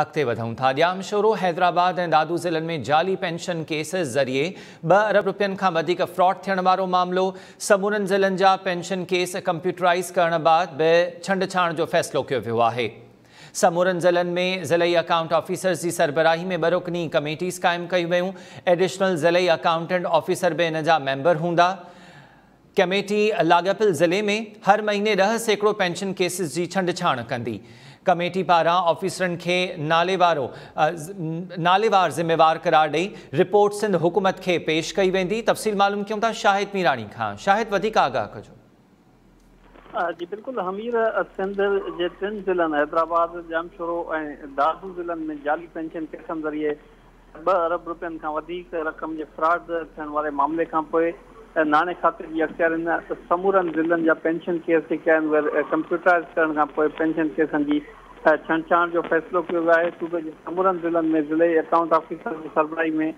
اڳتي وڌون ٿا، ڄام شورو، حيدرآباد ۽ دادو ضلعن ۾ جعلي پينشن ڪيسز ذريعي ٻه ارب رپين کان وڌيڪ فراڊ ٿيڻ وارو معاملو، سمورن ضلعن جا پينشن ڪيس ڪمپيوٽرائيز ڪرڻ بعد به ڇنڊڇاڻ جو فيصلو ڪيو ويو آهي، سمورن ضلعن ۾ ضلعي اڪائونٽ آفيسرز جي سربراهي ۾ ٻه رڪني ڪميٽيز قائم ڪيون ويون، ايڊيشنل ضلعي اڪائونٽنٽ آفيسر به ان جا ميمبر هوندا. ڪميٽي لاڳاپيل ضلعي ۾ هر مهيني ڏهه سيڪڙو پينشن ڪيسز جي ڇنڊڇاڻ ڪندي. ڪميٽي پاران آفيسرن کي ناليوارو ناليوار ذميوار قرار ڏئي رپورٽ سنڌ حڪومت کي پيش ڪئي ويندي تفصيل معلوم ڪيون ٿا شاهد ميراڻي کان شاهد وڌيڪ آگاهه ڪجو. جي بلڪل همير سنڌ جي ٽن ضلعن حيدرآباد، ڄامشورو ۽ دادو ضلعن ۾ جعلي پينشن ڪيسن ذريعي ٻه ارب رپين کان وڌيڪ رقم جي فراڊ ٿيڻ واري معاملي کانپوء ناڻي کاتي جي اختيارين سمورن ضلعن جا پينشن ڪيس جي ڪئين ويل ڪمپيوٽرائيز ڪرڻ کانپوء پينشن ڪيسن جي ڇنڊڇاڻ جو فيصلو ڪيو ويو آهي صوبي جي سمورن ضلعن ۾ ضلعي اڪائونٽ آفيسر جي سربراهي ۾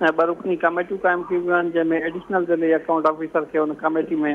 ٻه رڪني ڪاميٽيون قائم ڪيون ويون آهن جنهن ۾ ايڊيشنل ضلعي اڪائونٽ آفيسر کي ان ڪاميٽي ۾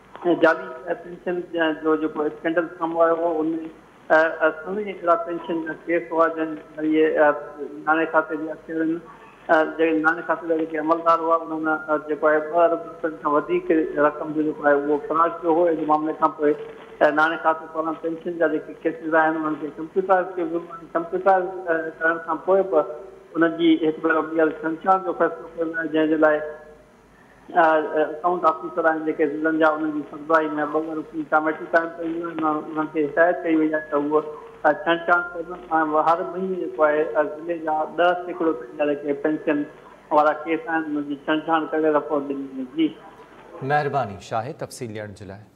جعلي پينشن جو جيڪو اسڪينڊل سامهون آيو هو ان ۾ سوين اهڙا پينشن جا ڪيس هئا جن ذريعي ناڻي کاتي جي اڪثرن جي ناڻي کاتي جا جيڪي عملدار هئا انهن جيڪو آهي ٻه ارب روپين کان وڌيڪ رقم جو جيڪو آهي اهو فراڊ ڪيو هو ان معاملي کان پوء ناڻي کاتي پاران پينشن جا جيڪي ڪيسز آهن انهن کي ڪمپيوٽرائز ڪيو ويو ۽ ڪمپيوٽرائز ڪرڻ کان پوء به ان جي هڪ ڀيرو ٻيهر سنچار جو فيصلو ڪيو ويو آهي جنهن جي لاء اڪائونٽ آفيسر آهن جيڪي ضلعن جا انهن جي سربراهي ۾ ٻه رڪني ڪاميٽي قائم ڪئي وئي آهي انهن کي هدايت ڪئي وئي آهي ته هو ڇنڊ ڇاڻ ڪن ۽ هر مهيني جيڪو آهي ضلعي جا ڏهه سيڪڙو تائين جا جيڪي پينشن وارا ڪيس آهن انهن جي ڇنڊ ڇاڻ ڪري رپورٽ ڏني وڃي. مهرباني شاهه تفصيل ڏيڻ جي لاء.